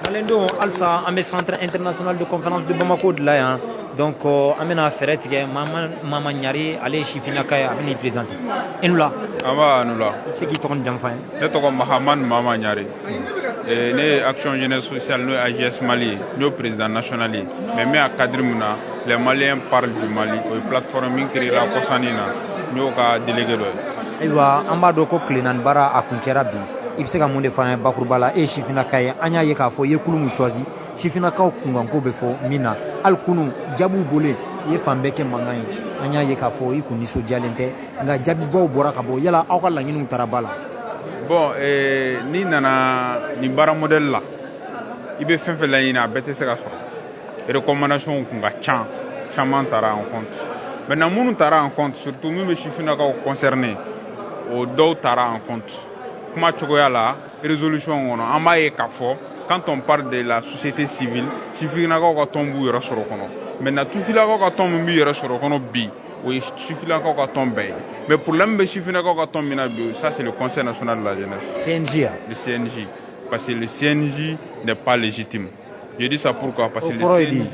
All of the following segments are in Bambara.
Malidenw halisa an bɛ centre international de conférence de Bamako de la yan donc euh, an bɛna fɛɛrɛ tigɛ Mama Mama Ɲare ale ye sifinnaka ye a bɛ n'i présenter i ni wula. Nba a ni wula. I bɛ se k'i tɔgɔ ni jamu f'an ye. Ne tɔgɔ Mahamani Mama Ɲare. Eh, ne ye action jeunesse sociale n'o ye AJS Mali ye n y'o président national ye mais n bɛ a cadre min na les Maliens parlent du Mali o ye plateforme min créer la kɔsannin na n y'o ka délégué dɔ ye. Ayiwa an b'a dɔn ko tile naani baara a kuncɛra bi. i bɛ se ka mun de f'an ye bakuruba la e ye sifinnaka ye an y'a ye k'a fɔ i ye kulu min choisi sifinnakaw kunkanko bɛ fɔ min na hali kunu jaabiw bɔlen i ye fan bɛɛ kɛ mankan ye an y'a ye k'a fɔ i kun nisɔndiyalen tɛ nka jaabibaw bɔra ka bɔ yala aw ka laɲiniw tara ba la bon eh, n'i nana nin baara modèle la i bɛ fɛn fɛn laɲini a bɛɛ tɛ se ka sɔrɔ recommandation kun ka ca caman tara en compte maintenant minnu tara en compte surtout min bɛ sifinnakaw concerné o dɔw tara en compte kuma cogoya la résolution kɔnɔ an b'a ye k'a fɔ quand on parle de la société civile sifinnakaw ka tɔn b'u yɛrɛ sɔrɔ kɔnɔ maintenant tufilakaw ka tɔn min b'u yɛrɛ sɔrɔ kɔnɔ bi o ye sifinnakaw ka tɔn bɛɛ ye mais problème bɛ sifinnakaw ka tɔn min na bi ça c'est le conseil national de la jeunesse CNJ le CNJ parce que le CNJ n'est pas légitime je dis ça pourquoi parce que le CNJ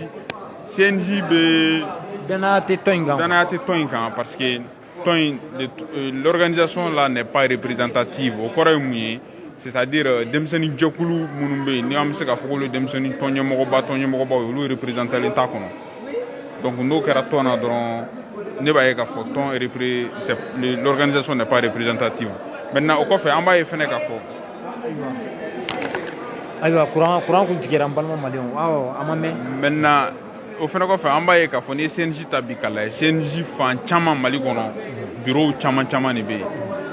CNJ bi danaya tɛ tɔn in kan danaya tɛ tɔn in kan parce que tɔn in euh, l'organisation là n'est pas représentative o kɔrɔ ye mun ye c'est à dire euh, denmisɛnnin jɛkulu minnu bɛ yen ni an bɛ se k'a fɔ k'olu denmisɛnnin tɔnɲɛmɔgɔba tɔnɲɛmɔgɔbaw ye olu représentalen t'a kɔnɔ donc n'o kɛra tɔn na dɔrɔn ne b'a ye k'a fɔ tɔn repré l'organisation n'est pas représentative maintenant o kɔfɛ an b'a ye fɛnɛ k'a fɔ ayiwa kuran kuran kun tigɛra n balima maliyɛnw awɔ a ma mɛn maintenant o fana kɔfɛ an b'a ye k'a fɔ n'i ye cnj ta bi k'a lajɛ cnj fan caman mali kɔnɔ birow caman caman de bɛ yen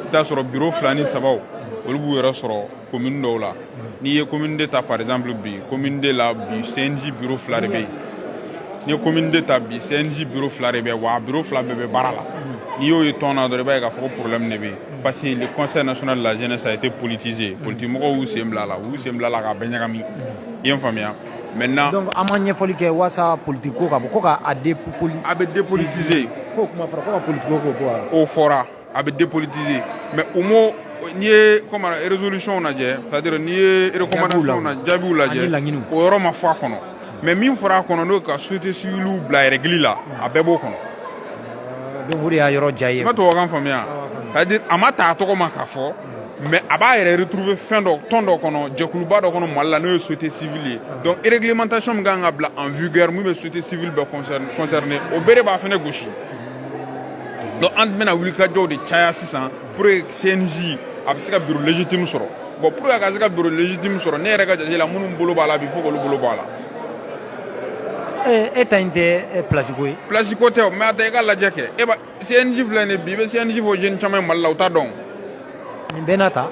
i t'a sɔrɔ biro fila ni sabaw olu b'u yɛrɛ sɔrɔ komini dɔw la n'i ye komini deux ta par exemple bi komini deux la bi cnj biro fila de bɛ yen n'i ye komini deux ta bi cnj biro fila de bɛ yen wa a biro fila bɛɛ bɛ baara la n'i y'o ye tɔn na dɔrɔn i b'a ye k'a fɔ ko problème de bɛ yen parce que le conseil national de la jeunesse a été politisé politique mɔgɔw y'u sen bila a la u y'u sen bila a la k'a bɛɛ ɲagami i ye n faamuya mɛ na dɔn an ma ɲɛfɔli kɛ walasasa politi ko ka bɔ ko k'a depoli a bɛ depolitise ko kuma fɔra ko ka politi ko bɔ o fɔra a bɛ deolitise mɛ u ma n ye rezolicɔnw lajɛ tadi n'i ye rekw na jaabiw lajɛ laɲini o yɔrɔ ma fɔ a kɔnɔ mɛ min fɔra a kɔnɔ n'o ka sute si bila yɛrɛli la a bɛɛ b'o kɔnɔ y'a yɔrɔ diya ye ka to faamuya a ma taa a tɔgɔ ma ka fɔ mais a b'a yɛrɛ retrouver fɛn dɔ tɔn dɔ kɔnɔ jɛkuluba dɔ kɔnɔ mali la n'o ye société civile ye donc réglementation min kan ka bila en vigueur min bɛ société civile bɛɛ concerné o bɛɛ de b'a fɛnɛ gosi donc an bɛna wulikajɔw de caya sisan pour que cnj a bɛ se ka bureau légitime sɔrɔ bon pour que a ka se ka bureau légitime sɔrɔ ne yɛrɛ ka jate la minnu bolo b'a la bi fo k'olu bolo bɔ a la e ta in tɛ place ko ye place ko tɛ o mais a ta i k'a lajɛ kɛ e b'a CNJ filɛ nin bi i bɛ CNJ fɔ jeunes caman ye Mali la u t'a dɔn. Nin bɛɛ n'a ta.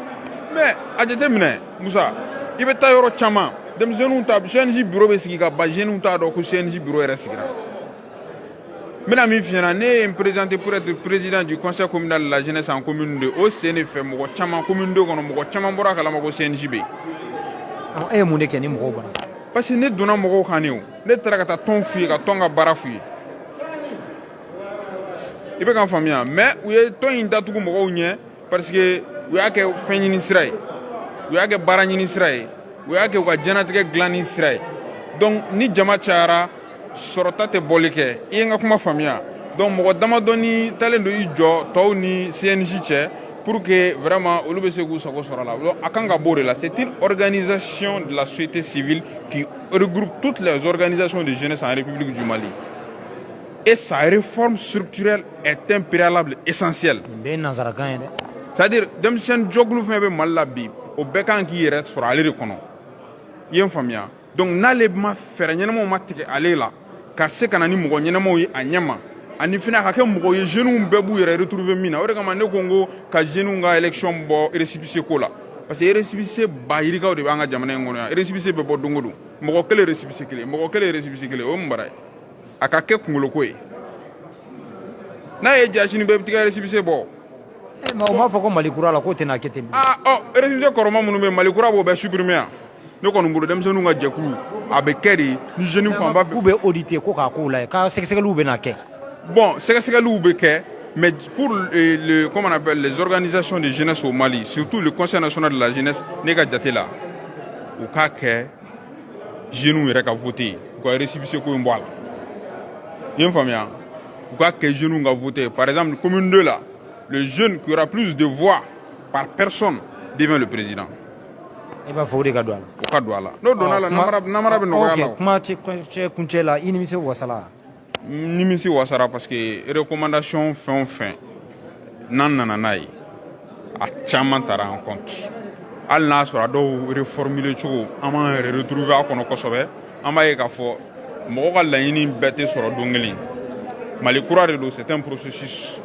Mais a jateminɛ Musa i bɛ taa yɔrɔ caman denmisɛnninw ta CNJ bureau bɛ sigi ka ban jeunes t'a dɔn ko CNJ bureau yɛrɛ sigira. N bɛna min f'i ɲɛna ne ye n présenter pour être président du conseil communal de la jeunesse en commune 2 o sen de fɛ mɔgɔ caman commune 2 kɔnɔ mɔgɔ caman bɔra a kalama ko CNJ bɛ yen. Ɔ e ye mun de kɛ ni mɔgɔw bɔra. Parce que ne donna mɔgɔw kan de o ne taara ka taa tɔn f'u ye ka tɔn ka baara f'u ye. i bɛ ka n faamuya mais u ye tɔn in datugu mɔgɔw ɲɛ parce que u y'a kɛ fɛn ɲini sira ye u y'a kɛ baara ɲini sira ye u y'a kɛ u ka diɲɛnatigɛ gilanni sira ye donc ni jama cayara sɔrɔta tɛ bɔli kɛ i ye n ka kuma faamuya donc mɔgɔ damadɔni taalen don i jɔ tɔw ni cnj cɛ pour que vraiment olu bɛ se k'u sago sɔrɔ la a kan ka b'o de la c'est une organisation de la société civile qui regroupe toutes les organisations de jeunesse en république du mali Et sa réforme structurelle est un préalable essentiel. Bɛɛ ye nanzarakan ye dɛ. C'est à dire denmisɛnnin jɛkulu fɛn bɛ Mali la bi o bɛɛ kan k'i yɛrɛ sɔrɔ ale de kɔnɔ. I ye n faamuya donc n'ale ma fɛɛrɛ ɲɛnamaw ma tigɛ ale la ka se ka na ni mɔgɔ ɲɛnamaw ye a ɲɛma ani fɛnɛ a ka kɛ mɔgɔ ye jeunes bɛɛ b'u yɛrɛ retrouver min na o de kama ne ko n ko ka jeunes ka élection bɔ récépissé ko la parce que récépissé ba yirikaw de b'an ka jamana in kɔnɔ yan récépissé bɛ bɔ don o don mɔgɔ kelen récépissé kelen mɔgɔ kelen récépissé kelen o ye mun baara ye. a ka kɛ kungolo ko ye n'a ye ja sini bɛɛ bɛ t'i ka récépissé bɔ eh, mais o m'a fɔ ko mali kura la k'o tɛna kɛ ten aa ah, ɔ récépissé kɔrɔma minnu bɛ mali kura b'o bɛɛ supprimer yan ne kɔni bolo denmisɛnninw ka jɛkulu a bɛ kɛ de ni jeunes fanba k'u bɛ auditer ko k'a k'o la ye ka sɛgɛsɛgɛliw bɛna kɛ bon sɛgɛsɛgɛliw bɛ kɛ mais pour eh, le, comment on appelle les organisations de jeunesse au mali surtout le conseil national de la jeunesse ne ka jate la u k'a kɛ jeunes yɛrɛ ka vote ye u ka récépissé ko in bɔ a la i ye n faamuya u k'a kɛ jeunes ka vote ye par exemple commune 2 la le jeune qui aura plus de voix par personne devient le président i b'a fɔ o de ka don a la o ka don a la n'o donna a la namara bɛ nɔgɔya la kuma cɛ kuncɛ la i nimisi wasala nimisi wasara parce que recommandation fɛn o fɛn n'an nana n'a ye a caman tara en compte hali n'a sɔrɔ a dɔw reformulé cogo an b'an yɛrɛ retrouver a kɔnɔ kosɛbɛ an b'a ye k'a fɔ mɔgɔ ka laɲini bɛɛ tɛ sɔrɔ don kelen mali kura de don c'est un processus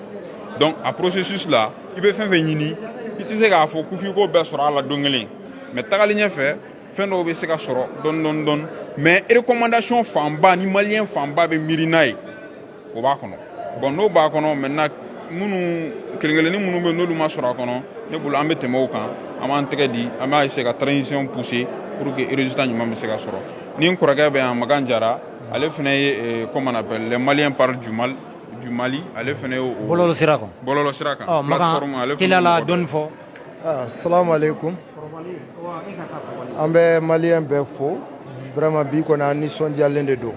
donc a processus la i bɛ fɛn fɛn ɲini i tɛ se k'a fɔ ko f'i k'o bɛɛ sɔrɔ a la don kelen mais tagalen ɲɛfɛ fɛn dɔw bɛ se ka sɔrɔ dɔɔni dɔɔni dɔɔni mais recommandation fanba ni maliyɛn fanba bɛ miiri n'a ye o b'a kɔnɔ bon n'o b'a kɔnɔ maintenant minnu kelen kelennin minnu bɛ n'olu ma sɔrɔ a kɔnɔ ne bolo an bɛ tɛmɛ o kan an b'an tɛgɛ di an b'a essayer ka transition pousser pour que résultat ɲuman bɛ se ka sɔrɔ ni n kɔrɔkɛ bɛ yan Makan Jara ale fana ye eh, comment on appelle les maliens parlent du Mali ale fana ye o bɔlɔlɔ sira kan bɔlɔlɔ sira kan plateforme ale fana y'o mɔgɔ dɔ ye. Ah, salamu alaikum an bɛ maliyɛn bɛɛ fo vraiment bi kɔni an nisɔndiyalen de don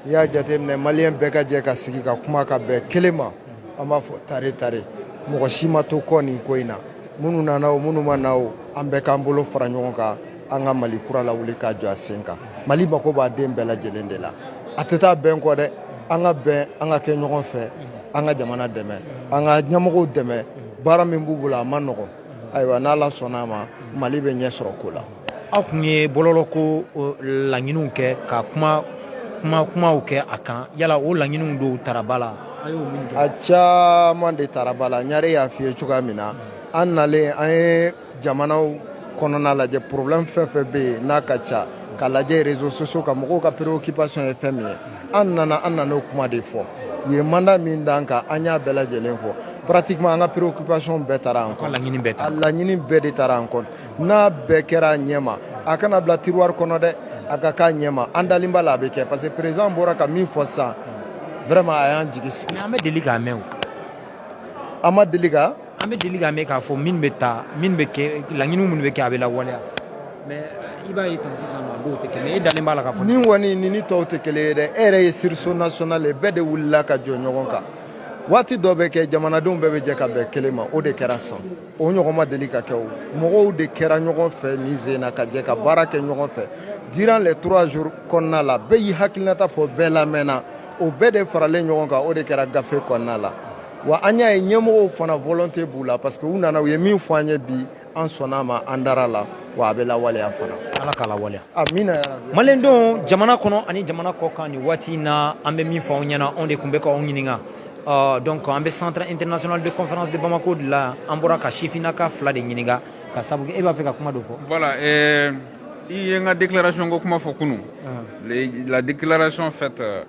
n'i y'a jateminɛ maliyɛn bɛɛ ka jɛ ka sigi ka kuma ka bɛn kelen ma an b'a fɔ tare tare mɔgɔ si ma to kɔ nin ko in na minnu nana o minnu ma na o an bɛɛ k'an bolo fara ɲɔgɔn kan an ka mali kura lawuli k'a jɔ a sen kan mali mako b'a den bɛɛ lajɛlen de la a tɛ taa bɛn kɔ dɛ an ka bɛn an ka kɛ ɲɔgɔn fɛ an ka jamana dɛmɛ an ka ɲɛmɔgɔw dɛmɛ baara min b'u bolo a man nɔgɔ ayiwa n'ala sɔnna a ma mali bɛ ɲɛ sɔrɔ ko la aw tun ye bɔlɔlɔko laɲiniw kɛ ka kuma kuma kumaw kɛ a kan yala o laɲiniw dɔw tara ba la a caman de tara ba la Ɲare y'a f'i ye cogoya min na an nalen an ye jamanaw kɔnɔna lajɛ problème fɛn fɛn bɛ yen n'a ka ca ka lajɛ réseaux sociaux kan mɔgɔw ka préoccupation ye fɛn min ye an nana an nan'o kuma de fɔ u ye mandat min d'an kan an y'a bɛɛ lajɛlen fɔ pratiquement an ka préoccupation bɛɛ tara an ka laɲini bɛɛ tara laɲini bɛɛ de tara an ko n'a bɛɛ kɛra a ɲɛma a kana bila tiroir kɔnɔ dɛ a ka k'a ɲɛma an dalen b'a la a bɛ kɛ parce que président bɔra ka min fɔ sisan vraiment a y'an jigi sigi mais an bɛ deli k'a mɛn o an ma deli ka an bɛ deli k'a mɛn k'a fɔ min bɛ ta min bɛ kɛ laɲini minnu bɛ kɛ a bɛ lawaleya mais i b'a ye tan sisan nɔ a dɔw tɛ kɛ mais e dalen b'a la k'a fɔ nin kɔni ni ni tɔw tɛ kelen ye dɛ e yɛrɛ ye sursaut national ye bɛɛ de wulila ka jɔ ɲɔgɔn kan waati dɔ bɛ kɛ jamanadenw bɛɛ bɛ jɛ ka bɛn kelen ma o de kɛra san o ɲɔgɔn ma deli ka kɛ o mɔgɔw de kɛra ɲɔgɔn fɛ nin sen na ka jɛ ka baara kɛ ɲɔgɔn fɛ durant les trois jours kɔnɔna la bɛɛ y'i hakilinata fɔ bɛɛ lamɛnna o bɛɛ de faralen ɲɔgɔn kan o de kɛra gafe kɔnɔna la wa an y'a ye ɲɛmɔgɔw fana volonté b'u la parce que u nana u ye min fɔ an ye bi an sɔnna a ma an dara a la wa a bɛ lawaleya fana ala k'a lawaleya amina yarabi maliyɛn denw jamana kɔnɔ ani jamana kɔ kan nin waati in na an bɛ min fɔ aw ɲɛna anw de tun bɛ k'aw ɲininka uh, donc an bɛ centre international de conférence de bamako de la an bɔra ka sifinnaka fila de ɲininka ka sabu kɛ e b'a fɛ ka kuma dɔ fɔ voilà euh, i ye n ka déclaration ko kuma fɔ kunu uh -huh. la déclaration faite euh,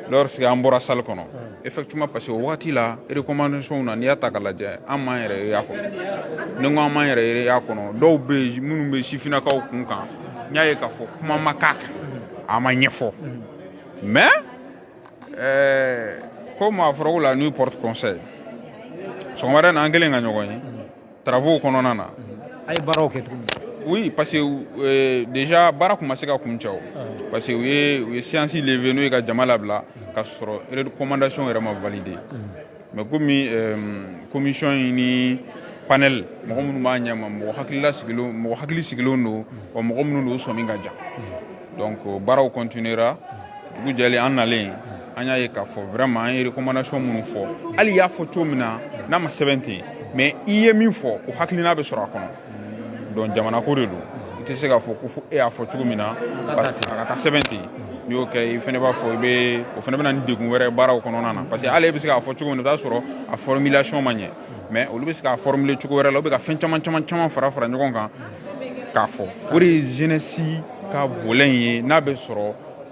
lorsque an bɔra salle kɔnɔ effectivement parce que o wagati la recommandation na n'i y'a ta k'a lajɛ an m'an yɛrɛ ye a kɔnɔ ni n ko an m'an yɛrɛ ye a kɔnɔ dɔw bɛ yen minnu bɛ sifinnakaw kun kan n y'a ye k'a fɔ kuma ma k'a kan a ma ɲɛfɔ mais ɛɛ comme a fɔra ko la nuit porte conseil sɔgɔmada na an kɛlen ka ɲɔgɔn ye Travaux kɔnɔna na a ye baaraw kɛ tuguni oui parce que euh, déjà baara kun ma se ka kuncɛ o ah. parce que u ye u ye séance levée n'o ye ka jama labila ka sɔrɔ recommandation yɛrɛ ma validé mm. mais komi euh, commission in ni panel mɔgɔ minnu b'a ɲɛma mɔgɔ hakilila sigilen mɔgɔ hakili sigilen don wa mɔgɔ minnu don u sɔmi ka jan donc baaraw continuera dugu jɛlen an nalen an y'a ye k'a fɔ vraiment an ye recommandation minnu fɔ hali i y'a fɔ cogo min na n'a ma sɛbɛn ten mais i ye min fɔ o hakilina bɛ sɔrɔ a kɔnɔ donc jamana ko de don i tɛ se k'a fɔ ko fo e y'a fɔ cogo min na a ka taa sɛbɛn ten n'i y'o kɛ i fana b'a fɔ i bɛ o fana bɛ na ni degun wɛrɛ baaraw kɔnɔna na parce que hali e bɛ se k'a fɔ cogo min na i bɛ t'a sɔrɔ a formulation ma ɲɛ mais olu bɛ se k'a formuler cogo wɛrɛ la u bɛ ka fɛn caman caman caman fara fara ɲɔgɔn kan k'a fɔ o de ye jeunesse ka volet in ye n'a bɛ sɔrɔ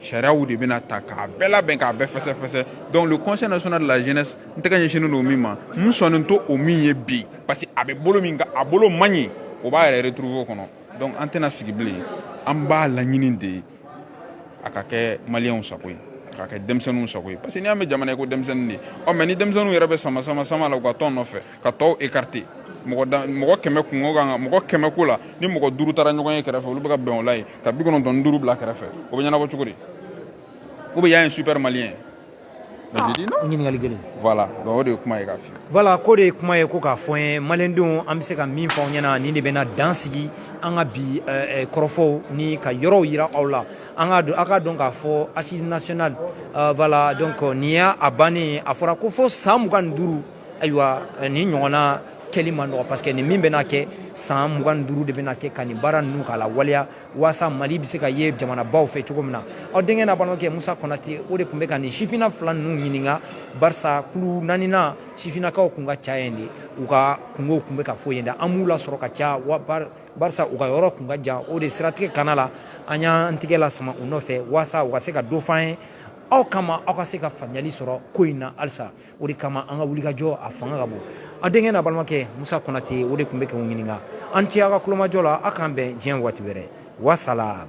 sariyaw de bɛna ta k'a bɛɛ labɛn k'a bɛɛ fɛsɛfɛsɛ donc le conseil national de la jeunesse n tɛgɛ ɲɛsinnen don min ma n sɔnnen to o min ye bi parce que a bɛ bolo min kan a bolo man ɲi o b'a yɛrɛ retrouver o kɔnɔ donc an tɛna sigi bilen an b'a laɲini de a ka kɛ maliyɛnw sago ye a ka kɛ denmisɛnninw sago ye parce que n'i y'a mɛn jamana ye ko denmisɛnnin de ɔ mais ni denmisɛnninw yɛrɛ bɛ sama sama sama la u ka tɔn nɔfɛ ka tɔw écarter mɔgɔ kɛmɛ kun kan mɔgɔ kɛmɛ ko la ni mɔgɔ duuru taara ɲɔgɔn ye kɛrɛfɛ olu bɛ ka bɛn o la ye ka bi kɔnɔntɔn ni duuru bila kɛrɛfɛ o bɛ ɲɛnabɔ cogo di ou bien y a un super malien ɲininkali kelen o de ye kuma ye k'a f'i ye voilà ko de ye kuma ye ko k'a fɔ ye maliyɛndenw an bɛ se ka min fɔ aw ɲɛna nin de bɛna dan sigi an ka bi kɔrɔfɔw ni ka yɔrɔw jira aw la an ka don aw ka dɔn k'a fɔ assises nationales voilà donc nin y' a bannen ye a fɔra ko fo san mugan ni duuru ayiwa nin ɲɔgɔnna kɛli man nɔgɔ parce que nin min bɛna kɛ san mugan duuru de bɛna kɛ ka nin baara ninnu k'a lawaleya waasa mali bɛ se ka ye jamanabaw fɛ cogo min na aw denkɛ n'a balimakɛ musa kɔnate o de tun bɛ ka nin sifina fila ninnu ɲininka barisa kulu naaninan sifinakaw kun ka ca yen de u ka kungow tun bɛ ka fɔ yen dɛ an m'u lasɔrɔ ka ca barisa u ka yɔrɔ tun ka jan o de siratigɛ kana la an y'an tigɛ lasama u nɔfɛ waasa u ka se ka dɔ f'an ye aw kama aw ka se ka faamuyali sɔrɔ ko in na halisa o de kama an ka wulikajɔ a fanga ka bon a denkɛ n'a balimakɛ musa kɔnate o de tun bɛ k'u ɲininka a ni ce aw ka kulomajɔ la aw k'an bɛn diɲɛ waati wɛrɛ wasalam